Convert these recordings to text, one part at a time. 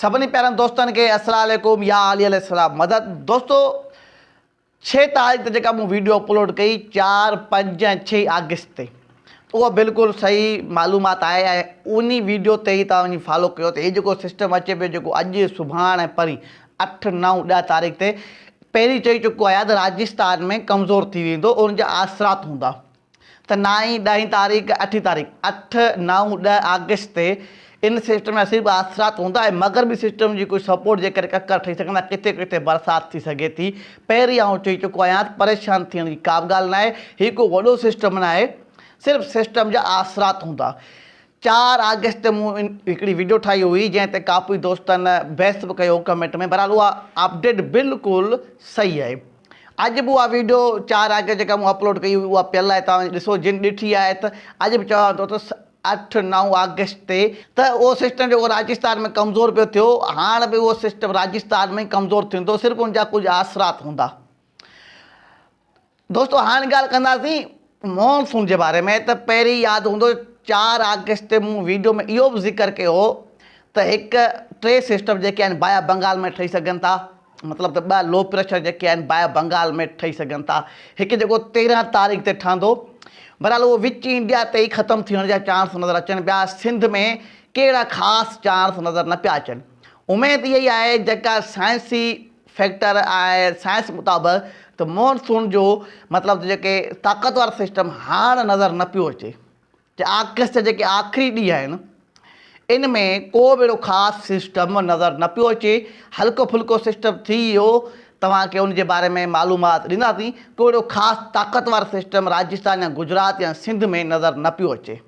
سڀني پيارن دوستن کي السلام عليڪم يا علي عليه السلام مدد دوستو ڇهه تاريخ تي جيڪا مون ويڊيو اپلوڊ ڪئي چار پنج ۽ ڇهه آگسٽ تي اها بلڪل صحيح معلومات آهي ۽ انهي ويڊيو تي ئي توهان وڃي فالو ڪيو ته هي جيڪو سسٽم اچي پيو جيڪو اڄ سڀاڻ ۽ پرين اٺ نو ڏهه تاريخ تي پهرين چئي چڪو آهيان ته راجستان ۾ ڪمزور ٿي ويندو ان جا آثرات هوندا ته نه ئي ڏهين تاريخ، اٺين تاريخ، اٺ، نو، ڏهه آگسٽ تي ان سسٽم جا صرف اثرات هوندا ۽ مغربي سسٽم جي ڪجهه سپورٽ جي ڪري ڪڪر ٺهي سگهندا، ڪٿي ڪٿي برسات ٿي سگهي ٿي، پهرين آئون چئي چڪو آهيان ته پريشان ٿيڻ جي ڪابه ڳالهه ناهي، هي ڪو وڏو سسٽم ناهي، صرف سسٽم جا اثرات هوندا. چار آگسٽ تي مون هڪڙي وڊيو ٺاهي هئي جنهن تي ڪافي دوستن بحث به ڪيو هو ڪمينٽ ۾، بهرحال اها اپڊيٽ بلڪل صحيح آهي. اڄ به اها ويڊيو چار آگسٽ جيڪا مون اپلوڊ ڪئي هئي اها پيل آهي توهان ڏسو جن ڏٺي آهي ته اڄ به چوان ٿو ته اٺ نو آگسٽ تي ته اهو سسٽم جيڪو راجستان ۾ ڪمزور پيو ٿيو هاڻ به اهو سسٽم راجستان ۾ ڪمزور ٿيندو صرف ان جا ڪجهه آسرات هوندا دوستو هاڻ ڳالهه ڪنداسين مون سون جي باري ۾ ته پهرين ياد هوندو چار آگسٽ تي مون ويڊيو ۾ اهو به ذڪر ڪيو هو ته هڪ ٽي سسٽم جيڪي آهن بايا بنگال ۾ ٺهي سگهن ٿا مطلب ته ٻه لو پريشر جيڪي آهن بايا بنگال ۾ ٺهي سگهن ٿا هڪ جيڪو تيرهن تاريخ تي ٺهندو بهرحال اهو وچ انڊيا تي ئي ختم ٿيڻ جا چانس نظر اچن پيا سنڌ ۾ ڪهڙا خاص چانس نظر نه پيا اچن اميد اها ئي آهي جيڪا سائنسي فيڪٽر آهي سائنس مطابق ته مون سون جو مطلب جيڪي طاقتور سسٽم هاڻ نظر نه پيو اچي ته آگسٽ جا جيڪي آخري ڏينهن آهن ان ۾ ڪو به اهڙو خاص سسٽم نظر نه پيو اچي هلڪو ڦلڪو سسٽم ٿي ويو توهان کي ان جي باري ۾ معلومات ڏينداسين ڪو اهڙو خاص طاقتور سسٽم راجستان يا گجرات يا سنڌ ۾ نظر نه پيو اچي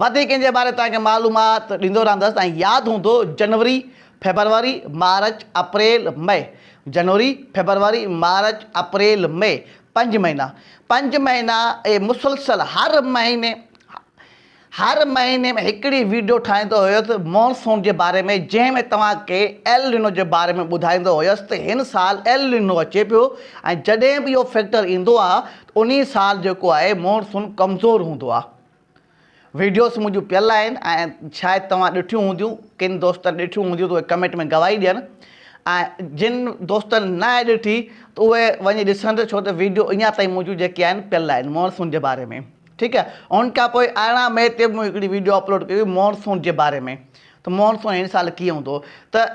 وڌيڪ ان جي باري توهان کي معلومات ڏيندو رهندس توهان ياد هوندو جنوري فيبروري مارچ اپريل مئي جنوري فيبروري مارچ اپريل مئي پنج مهينا پنج مهينا اهي مسلسل هر مهيني هر مهيني ۾ هڪڙي ويڊيو ٺاهيندو هيس مونسون جي باري ۾ جنهن ۾ توهان کي ايل نينو جي باري ۾ ٻڌائيندو هيس ته هن سال ايل نينو اچي پيو ۽ جڏهن به اهو فيڪٽر ايندو آهي انهي سال جيڪو آهي مون سون ڪمزور هوندو آ ويڊيوس منهنجون پيل آهن ۽ شايد توهان ڏٺيون هونديون ڪن دوستن ڏٺيون هونديون ته اهي ڪمينٽ ۾ گواهي ڏين ۽ جن دوستن نه آهي ڏٺي ته اهي وڃي ڏسن ڇو ته ويڊيو اڃا تائين منهنجون جيڪي آهن پيل آهن مون سون جي باري ۾ ٺيڪ آهي ان کان پوء ارڙهن مئي تي مون هڪڙي ويڊيو اپلوڊ ڪئي هئي مون سون جي باري ۾ ته مون سون هن سال ڪيئن هوندو ته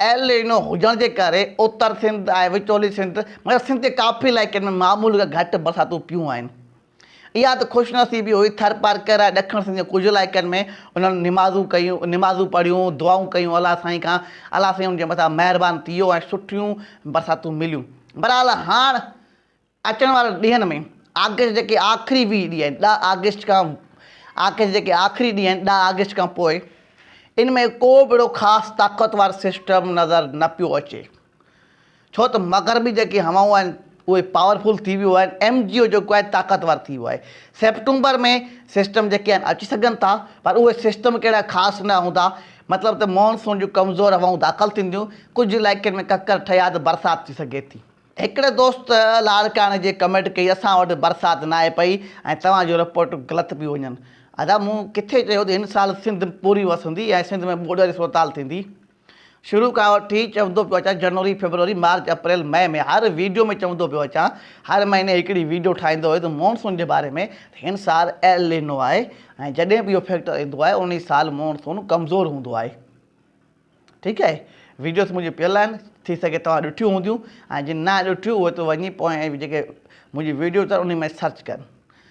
ايل نينو هجڻ جي ڪري اتر سنڌ ۽ وچولي سنڌ مگر سنڌ جي ڪافي علائقن ۾ معمول کان گهٽ برساتون پيون آهن. اها ته خوش نصيبي هئي ٿرپارڪر ۽ ڏکڻ سنڌ جي ڪجهه علائقن ۾ انهن نمازون ڪيون نمازون پڙهيون دعائون ڪيون الله سائين کان الله سائين انهن جي مٿان مهربان ٿي ويو ۽ سٺيون برساتون مليون. بهرحال هاڻ اچڻ وارن ڏينهن ۾ آگسٽ جا جيڪي آخري ويهه ڏينهن آهن، ڏهه آگسٽ کان آگسٽ جا جيڪي آخري ڏينهن آهن، ڏهه آگسٽ کان پوء ان ۾ ڪو به اهڙو خاص طاقتور سسٽم نظر نه پيو اچي، ڇو ته مغربي جيڪي هوائون آهن، اهي پاور فل ٿي ويون آهن، ايم جي او جيڪو آهي طاقتور ٿي ويو آهي. سيپٽمبر ۾ سسٽم جيڪي آهن اچي سگهن ٿا، پر اهي سسٽم ڪهڙا خاص نه هوندا، مطلب ته مون سون جون ڪمزور هوائون داخل ٿينديون، ڪجهه علائقن ۾ ڪڪر ٺهيا ته برسات ٿي سگهي ٿي. هڪڙي دوست لاڙڪاڻي جي ڪمينٽ ڪئي اسان وٽ برسات ناهي پئي ۽ توهان جون رپورٽون غلط پيون وڃن ادا مون ڪٿي چيو ته هن سال سنڌ پوري وسندي ۽ سنڌ ۾ ٻوڏ واري صورتحال ٿيندي شروع کان وٺي چوندو پيو اچان جنوري فيبروري مارچ اپريل مئي ۾ هر ويڊيو ۾ چوندو پيو اچان هر مهيني هڪڙي ويڊيو ٺاهيندو هيس مونسون جي باري ۾ ته هن سال ايل لينو آهي ۽ جڏهن به اهو فيڪٽر ايندو آهي انهي سال مونسون ڪمزور هوندو آهي. ٺيڪ آهي ويڊيوس منهنجي پيل آهن ٿي سگهي توهان ڏٺيون هونديون ۽ جن نه ڏٺيون اهي ته وڃي پويان جيڪي منهنجي ويڊيوس آهن انهي ۾ سرچ ڪن.